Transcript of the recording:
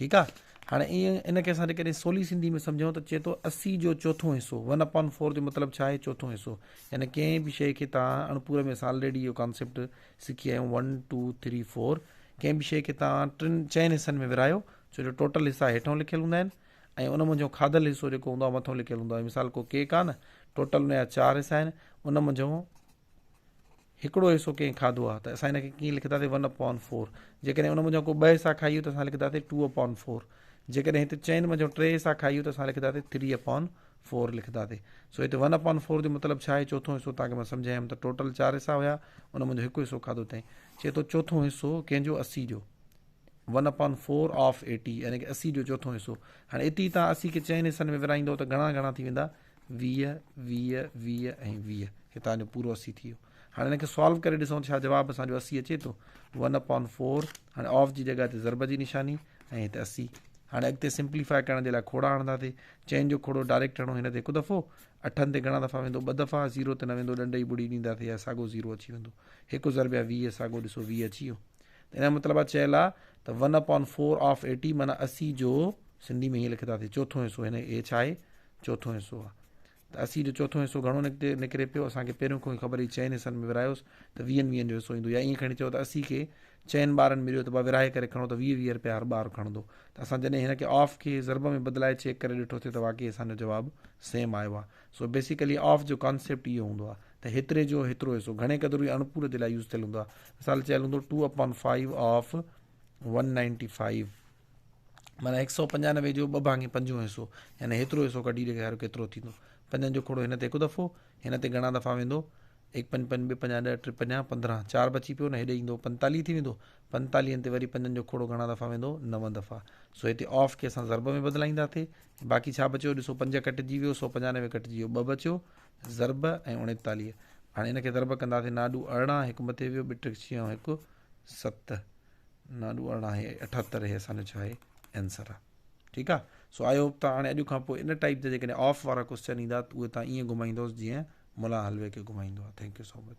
ٺيڪ آ هاڻي ايئن ان کي اسان جيڪڏهن سولي سنڌي ۾ سمجهون ته چئي ٿو اسي جو چوٿون حصو ون اپان فور جو مطلب ڇا آهي چوٿون حصو يعني ڪنهن به شيء کي تان اڻپوري ۾ اسان آلريڊي اهو ڪانسيپٽ سکي آيا ون ٽو ٿري فور ڪنهن به شيء کي تان ٽن چئن حصن ۾ ورهايو ڇو جو ٽوٽل حصا هيٺون لکيل هوندا آهن ۽ ان منجهو کاڌل حصو جيڪو هوندو آهي مٿو لکيل هوندو آهي مثال ڪو ڪيڪ آهي نه ٽوٽل ان جا چار حصا آهن ان منجهو هڪڙو حصو ڪنهن کاڌو آ ته اسان ان کي ڪيئن لکنداسين ون اپان فور جيڪڏهن ان منجهان ڪو ٻه حصا کائيو ته اسان لکنداسين ٽو اپان فور جيڪڏهن هت چئن منجهان ٽي حصا کائيو ته اسان لکنداسين ٿري اپان فور لکنداسين سو هت ون اپان فور جو مطلب ڇا آهي چوٿون حصو تان کي مان سمجهايم ته ٽوٽل چار حصا هيا ان منجهان هڪ حصو کاڌو تائين چي ٿو چوٿون حصو ڪنهن جو اسي جو one upon four of eighty يعني ڪي اسي جو چوٿون حصو هاڻي اتي تان اسي کي چئن حصن ۾ ورائيندو ته گهڻا گهڻا ٿي ويندا ويهه، ويهه، ويهه ۽ ويهه هتان جو پورو اسي ٿي ويو. هاڻي هن کي سالو ڪري ڏسون ته ڇا جواب اسان جو اسي اچي ٿو؟ ون اپان فور، هاڻي آف جي جڳهه تي ضرب جي نشاني ۽ هت اسي. هاڻي اڳتي سمپليفاء ڪرڻ جي لاء کڙا هڻنداسي. چئن جو کڙو ڊائريڪٽ هڻو هن تي هڪ دفعو، اٺن تي گهڻا دفعا ويندو؟ ٻه دفعا، زيرو تي نه ويندو، ڏنڊ جي ٻڙي ڏينداسي يا ساڳو زيرو اچي ويندو. هڪ ضرب يا ويهه ساڳو ڏسو ويهه اچي ويو. ته ان جو مطلب آ چيل آ ته one upon four of eighty معنيٰ اسي جو سنڌي ۾ هيئن لکنداسي چوٿون حصو هن هي ڇا آهي؟ چوٿون حصو آ ته اسي جو چوٿون حصو گهڻو نڪتي نڪري پيو اسان کي پهريون کان ئي خبر هئي چئن حصن ۾ ورهايوس ته ويهن ويهن جو حصو ايندو يا ائين کڻي چئو ته اسي کي چئن ٻارن مليو ته با ورهائي ڪري کڻو ته ويهه ويهه رپيا هر ٻار کڻندو ته اسان جڏهن هن کي آف کي ضرب ۾ بدلائي چيڪ ڪري ڏٺو ٿي ته واقعي اسان جو جواب سيم آيو آ سو بيسيڪلي آف جو ڪانسيپٽ اهو هوندو آ ته هيتري جو هيترو حصو گهڻي قدر اهو اڻ پورو جي لاء يوز ٿيل هوندو آ مثال چيل هوندو two upon five of one ninety five معنيٰ هڪ سئو پنجانوي جو ٻه ڀاڱي پنجون حصو، يعني هيترو حصو ڪڍي ڏيکاريو ڪيترو ٿيندو. پنجن جو کوڙو هن تي هڪ دفعو، هن تي گهڻا دفعا ويندو، هڪ پنج پنج ٻه پنجاهه ڏهه ٽي پنجاهه پندرهن چار بچي پيو نه هيڏي ايندو پنتاليهه ٿي ويندو، پنتاليهن تي وري پنجن جو کوڙو گهڻا دفعا ويندو نو دفعا. سو هتي آف کي اسان ضرب ۾ بدلائيندا ٿي ۽ باقي ڇا بچيو ڏسو پنج ڪٽجي ويو سئو پنجانوي ڪٽجي ويو ٻه بچيو ضرب ۽ اڻيتاليهه هاڻي ان کي ضرب ڪنداسين ناڏو ارڙهن هڪ مٿي ويو ٻه ٽي ڇهه ۽ هڪ ست نانو ارڙهن هي اٺهتر هي اسان جو ڇا آهي آنسر آ ٺيڪ آ سو آئي هوپ تان هاڻي اڄ کان پوء ان ٽائپ جا جيڪڏهن آف وارا ڪوشچن ايندا اهي تان ايئن گهمائيندوس جيئن ملا حلوي کي گهمائيندو آ ٿينڪ يو سو مچ